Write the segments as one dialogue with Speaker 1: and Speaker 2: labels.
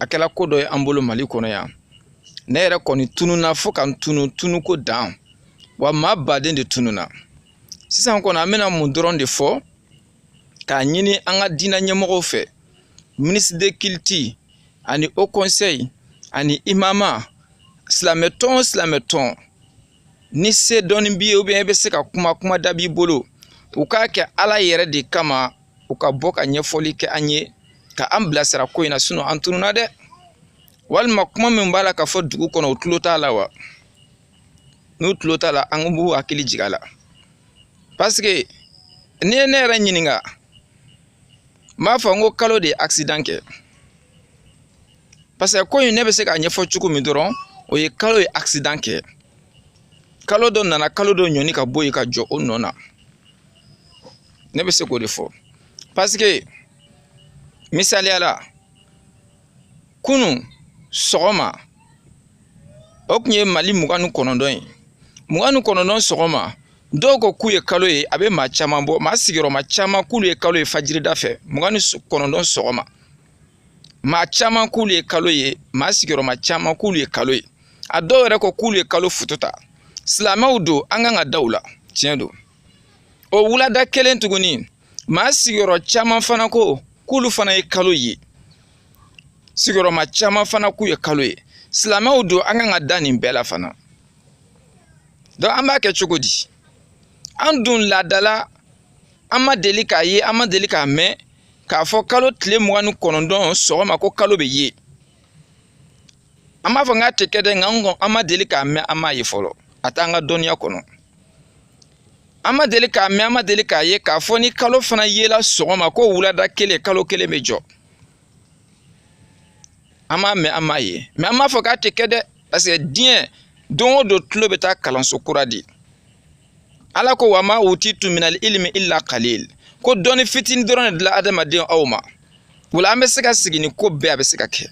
Speaker 1: a kɛla ko dɔ ye an bolo mali kɔnɔ yan ne yɛrɛ kɔni tununa fo ka n tunu tunuko dan wa maa baden de tununa sisan kɔni an bɛna mun dɔrɔn de fɔ k'a ɲini an ka diinɛ ɲɛmɔgɔw fɛ ministre de culte ani haut conseil ani imama silamɛ tɔn o silamɛ tɔn ni se dɔɔni b'i ye ou bien i bɛ se ka kuma kuma da b'i bolo u k'a kɛ ala yɛrɛ de kama u ka bɔ ka ɲɛfɔli kɛ an ye ka an bilasira ko in na sinon an tununa dɛ walima kuma min b'a la ka fɔ dugu kɔnɔ u tulo t'a la wa n'u tulo t'a la an b'u hakili jigin a la parce que n'i ye ne yɛrɛ ɲininka n b'a fɔ n ko kalo de ye accident kɛ parce que ko in ne bɛ se k'a ɲɛfɔ cogo min dɔrɔn o ye kalo ye accident kɛ kalo dɔ nana kalo dɔ ɲɔni ka bɔ yen ka jɔ o nɔ na ne bɛ se k'o de fɔ parce que misaliya la kunun sɔgɔma o tun ye mali mugan ni kɔnɔntɔn ye mugan ni kɔnɔntɔn sɔgɔma dɔw ko k'u ye kalo ye a bɛ maa caman bɔ maa sigiyɔrɔma caman k'olu ye kalo ye fajirida fɛ mugan ni kɔnɔntɔn sɔgɔma maa caman k'olu ye kalo ye maa sigiyɔrɔma caman k'olu ye kalo ye a dɔw yɛrɛ ko k'olu ye kalo foto ta silamɛw don an kan ka da u la tiɲɛ don o wulada kelen tuguni maa sigiyɔrɔ caman fana ko k'olu fana ye kalo ye sigiyɔrɔma caman fana k'u ye kalo ye silamɛw don an kan ka da nin bɛɛ la fana donc an b'a kɛ cogo di an dun laadala an ma deli k'a ye an ma deli k'a mɛn k'a fɔ kalo tile mugan ni kɔnɔntɔn sɔgɔma ko kalo bɛ ye an m'a fɔ n k'a tɛ kɛ dɛ nka an kɔni an ma deli k'a mɛn an m'a ye fɔlɔ a t'an ka dɔnniya kɔnɔ an ma deli k'a mɛn an ma deli k'a ye k'a fɔ ni kalo fana yela sɔgɔma ko wulada kelen kalo kelen bɛ jɔ an m'a mɛn an m'a ye mais an m'a fɔ k'a tɛ kɛ dɛ parce que diɲɛ don o don tulo bɛ taa kalanso kura de ala ko wa ma utitum minal ilmi illa kalil ko dɔnni fitini dɔrɔn de dila adamaden aw ma wala an bɛ se ka sigi ni ko bɛɛ a bɛ se ka kɛ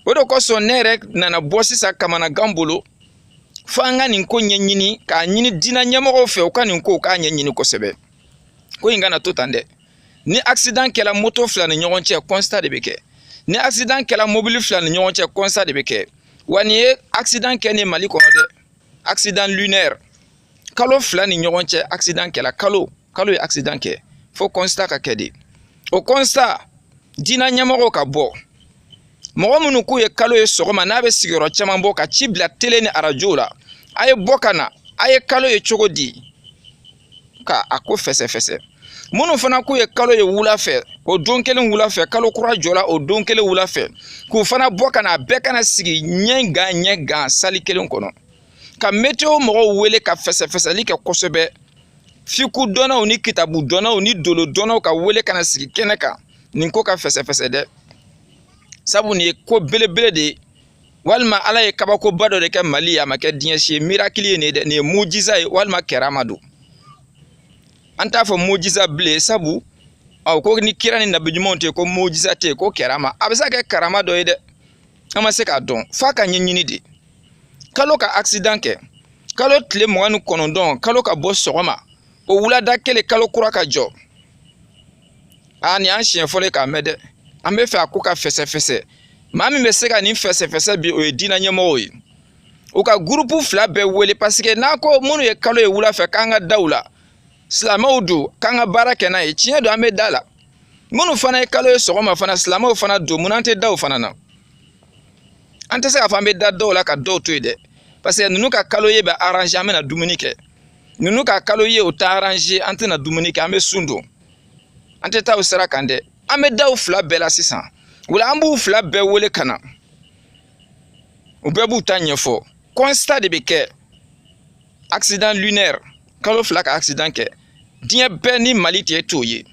Speaker 1: o de kosɔn ne yɛrɛ nana bɔ sisan kamanagan bolo fo an ka nin ko ɲɛɲini k'a ɲini diinɛ ɲɛmɔgɔw fɛ u ka nin ko u k'a ɲɛɲini kosɛbɛ ko in kana to tan dɛ ni accident kɛla moto fila ni ɲɔgɔn cɛ constat de bɛ kɛ ni accident kɛla mobili fila ni ɲɔgɔn cɛ constat de bɛ kɛ wa nin ye accident kɛnen mali kɔnɔ dɛ accident lunaire kalo fila ni ɲɔgɔn cɛ accident kɛla kalo kalo ye accident kɛ fo constat ka kɛ de o constat diinɛ ɲɛmɔgɔw ka bɔ mɔgɔ minnu k'u ye kalo ye sɔgɔma n'a bɛ sigiyɔrɔ caman bɔ ka ci bila tele ni arajo la a ye bɔ ka na a ye kalo ye cogo di ka a ko fɛsɛfɛsɛ minnu fana k'u ye kalo ye wula fɛ o don kelen wula fɛ kalo kura jɔla o don kelen wula fɛ k'u fana bɔ ka na a bɛɛ ka na sigi ɲɛ gan ɲɛ gan sali kelen kɔnɔ ka meteo mɔgɔw wele ka fɛsɛfɛsɛli kɛ kosɛbɛ fiku dɔnnaw ni kitabu dɔnnaw ni dolo dɔnnaw ka wele ka na sigi kɛnɛ kan nin ko ka fɛsɛfɛsɛ dɛ sabu nin ye ko belebele de ye walima ala ye kabakoba dɔ de kɛ mali ye a ma kɛ diɲɛ si ye mirakili ye nin ye dɛ nin ye mujiza ye walima karama don an t'a fɔ mujiza bilen sabu u ko ni kira ni nabi ɲumanw tɛ ko mujiza tɛ ko karama a bɛ se ka kɛ karama dɔ ye dɛ an ma se k'a dɔn f'a ka ɲɛɲini de kalo ka accident kɛ kalo tile mugan ni kɔnɔntɔn kalo ka bɔ sɔgɔma o wulada kelen kalo kura ka jɔ a nin y'an siɲɛ fɔlɔ ye k'a mɛn dɛ an bɛ fɛ a ko ka fɛsɛfɛsɛ maa min bɛ se ka nin fɛsɛfɛsɛ bi o ye diinɛ ɲɛmɔgɔw ye u ka gurupu fila bɛɛ wele paseke n'a ko minnu ye kalo ye wula fɛ k'an ka da u la silamɛw don k'an ka baara kɛ n'a ye tiɲɛ don an bɛ da a la minnu fana ye kalo ye sɔgɔma fana silamɛw fana don munna an tɛ da u fana na an tɛ se k'a fɔ an bɛ da dɔw la ka dɔw to yen dɛ parce que ninnu ka kalo ye bɛ aranze an bɛna dumuni kɛ ninnu ka kalo ye o tɛ aranze an tɛna dumuni kɛ an bɛ sun don an tɛ taa o sira kan dɛ an bɛ da u fila bɛɛ la sisan wala an b'u fila bɛɛ wele ka na u bɛɛ b'u ta ɲɛfɔ constat de bɛ kɛ accident lunaire kalo fila ka accident kɛ diɲɛ bɛɛ ni mali cɛ t'o ye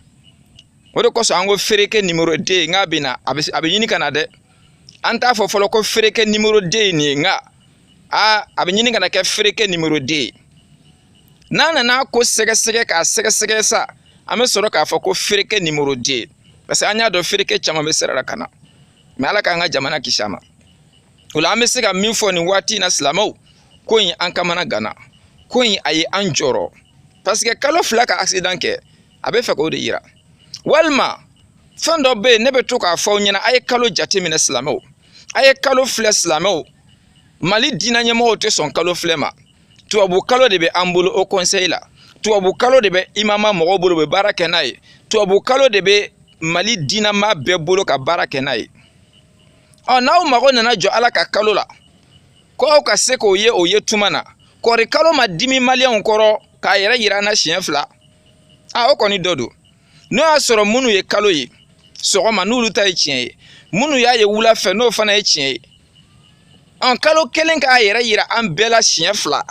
Speaker 1: o de kosɔn an ko fereke numéro deux in k'a bɛ na a bɛ a bɛ ɲini ka na dɛ an t'a fɔ fɔlɔ ko fereke numéro deux ye nin ye nka a a bɛ ɲini ka na kɛ fereke numéro deux ye n'an nana a ko sɛgɛsɛgɛ k'a sɛgɛsɛgɛ sa an bɛ sɔrɔ k'a fɔ ko fereke numéro deux parce que an y'a dɔn fereke caman bɛ sira la ka na mais ala k'an ka jamana kisi a ma o la an bɛ se ka min fɔ nin waati in na silamɛw ko in an kamanaganna ko in a ye an jɔrɔ paseke kalo fila ka accident kɛ a bɛ fɛ k'o de yira walima fɛn dɔ bɛ yen ne bɛ to k'a fɔ aw ɲɛna a ye kalo jateminɛ silamɛw a ye kalo filɛ silamɛw mali diinɛ ɲɛmɔgɔw tɛ sɔn kalo filɛ ma tubabu kalo de bɛ an bolo haut conseil la tubabu kalo de bɛ imama mɔgɔw bolo u bɛ baara kɛ n'a ye tubabu kalo de bɛ mali diinɛmaa bɛɛ bolo ka baara kɛ n'a ye ɔ n'aw mago nana jɔ ala ka kalo la ko aw ka se k'o ye o ye tuma na kori kalo ma dimi maliyɛnw kɔrɔ k'a yɛrɛ yira an na siɲɛ fila a o kɔni dɔ don n'o y'a sɔrɔ minnu ye kalo ye sɔgɔma n'olu ta ye tiɲɛ ye minnu y'a ye wula fɛ n'o fana ye tiɲɛ ye ɔn kalo kelen k'a yɛrɛ yira an bɛɛ la siɲɛ fila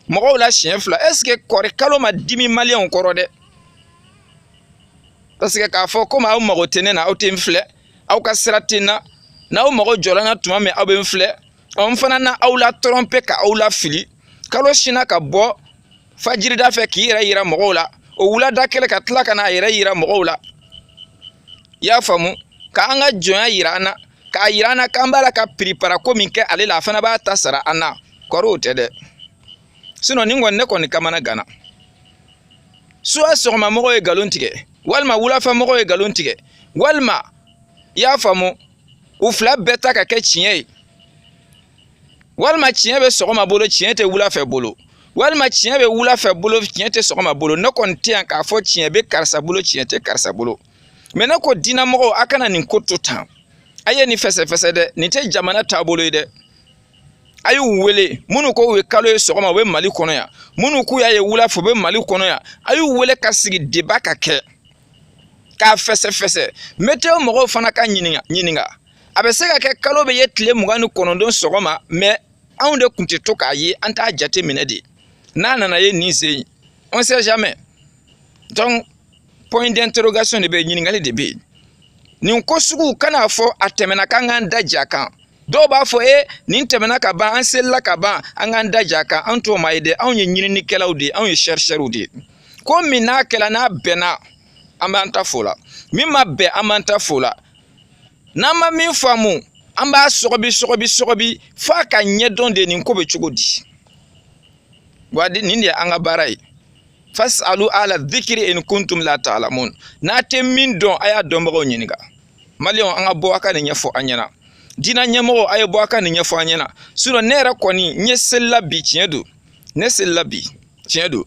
Speaker 1: mɔgɔw la siɲɛ fila est-ce que kori kalo ma dimi maliyɛnw kɔrɔ dɛ parce que k'a fɔ komi aw mago tɛ ne na aw tɛ n filɛ aw ka sira tɛ n na n'aw mago jɔra n na tuma min aw bɛ n filɛ ɔ n fana na aw latɔrɔnpe ka aw lafili kalo sinna ka bɔ fajirida fɛ k'i yɛrɛ yira mɔgɔw la o wulada kelen ka tila ka n'a yɛrɛ yira mɔgɔw la i y'a faamu ka an ka jɔnya yira an na k'a yira an na k'an b'a la ka piripara ko min kɛ ale la a fana b'a ta sara an na kori o tɛ dɛ sinon nin kɔni ne kɔni kamanaganna soit sɔgɔma mɔgɔ ye nkalon tigɛ walima wulafɛ mɔgɔ ye nkalon tigɛ walima i y'a faamu u fila bɛɛ ta ka kɛ tiɲɛ ye walima tiɲɛ bɛ sɔgɔma bolo tiɲɛ tɛ wulafɛ bolo walima tiɲɛ bɛ wulafɛ bolo tiɲɛ tɛ sɔgɔma bolo ne kɔni tɛ yan k'a fɔ tiɲɛ bɛ karisa bolo tiɲɛ tɛ karisa bolo mais ne ko diinamɔgɔw a kana nin ko to tan a ye nin fɛsɛfɛsɛ dɛ nin tɛ jamana taabolo ye dɛ a y'u wele minnu ko u ye kalo ye sɔgɔma u bɛ mali kɔnɔ yan minnu k'u y'a ye wula fɛ u bɛ mali kɔnɔ yan a y'u wele ka sigi débat ka kɛ k'a fɛsɛfɛsɛ meteo mɔgɔw fana ka ɲininka a bɛ se ka kɛ kalo bɛ ye tile mugan ni kɔnɔntɔn sɔgɔma mais anw de tun tɛ to k'a ye an t'a jate minɛ de n'a nana ye nin sen on sait jamais donc point d'interrogation de bɛ yen ɲininkali de bɛ yen nin ko sugu kana fɔ a tɛmɛna k'an k'an da j'a kan dɔw b'a fɔ e nin tɛmɛna ka ban an selila ka ban an k'an da j'a kan an t'o maa ye dɛ anw ye ɲininikɛlaw de ye anw ye chercheurw de ye ko min n'a kɛla n'a bɛnna an b'an ta f'o la min ma bɛn an b'an ta f'o la n'an ma min faamu an b'a sɔgɔbi sɔgɔbi sɔgɔbi f'a ka ɲɛdɔn de nin ko bɛ cogo di wa nin de ye an ka baara ye fas'alu ahla dhikri in kuntum la ta'lamun n'a tɛ min dɔn a y'a dɔnbagaw ɲininka maliyɛnw an ka bɔ a ka nin ɲɛfɔ an ɲɛna diinɛ ɲɛmɔgɔw a ye bɔ a ka nin ɲɛfɔ an ɲɛna sinon ne yɛrɛ kɔni ne selila bi tiɲɛ don ne selila bi tiɲɛ don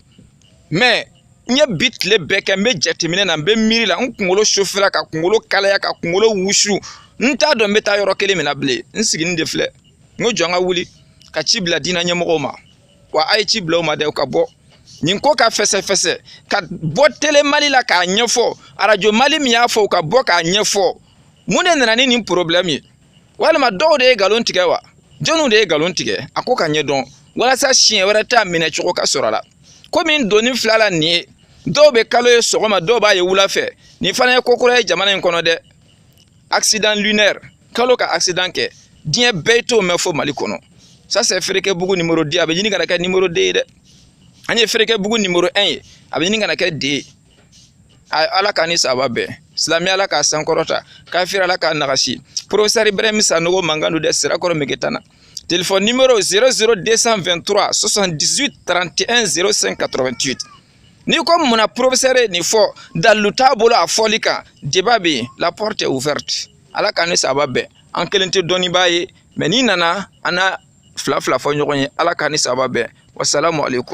Speaker 1: mais n ye bi tile bɛɛ kɛ n bɛ jateminɛ na n bɛ miiri la n kunkolo sofera ka kunkolo kalaya ka kunkolo wusu n t'a dɔn n bɛ taa yɔrɔ kelen min na bilen n siginin de filɛ n ko jɔn ka wuli ka ci bila diinɛ ɲɛmɔgɔw ma wa a ye ci bila u ma dɛ u ka bɔ nin ko ka fɛsɛfɛsɛ ka bɔ tele mali la k'a ɲɛfɔ arajo mali min y'a fɔ u ka bɔ k'a ɲɛfɔ mun de nana ni nin problɛmu ye walima dɔw de ye nkalon tigɛ wa jɔnw de ye nkalon tigɛ a ko ka ɲɛ dɔn walasa siɲɛ wɛrɛ ta minɛcogo ka sɔrɔ a la komi n donni fila la nin ye dɔw bɛ kalo ye sɔgɔma dɔw b'a ye wula fɛ nin fana ye ko kura ye jamana in kɔnɔ dɛ accident lunaire kalo ka accident kɛ diɲɛ bɛɛ t'o mɛn fo mali kɔnɔ ça c'est fereke bugu numéro 10 a bɛ ɲini kana kɛ numéro 2 ye dɛ an ye fereke bugu numéro 1 ye a bɛ ɲini kana kɛ 2 ye ala k'an ni saba bɛn silamɛ ala k'a sankɔrɔta kafiri ala k'a nagasi professeur ibrahim sanogo mankan don dɛ sirakɔrɔ megetana téléphone numéro 00223 78 31 05 88 N'i ko munna professeur ye nin fɔ dalilu t'a bolo a fɔli kan débat bɛ yen la porte est ouverte ala k'an ni saba bɛn an kelen tɛ dɔnnibaa ye mais n'i nana an na fila fila fɔ ɲɔgɔn ye ala k'an ni saba bɛn wasalamu aleykum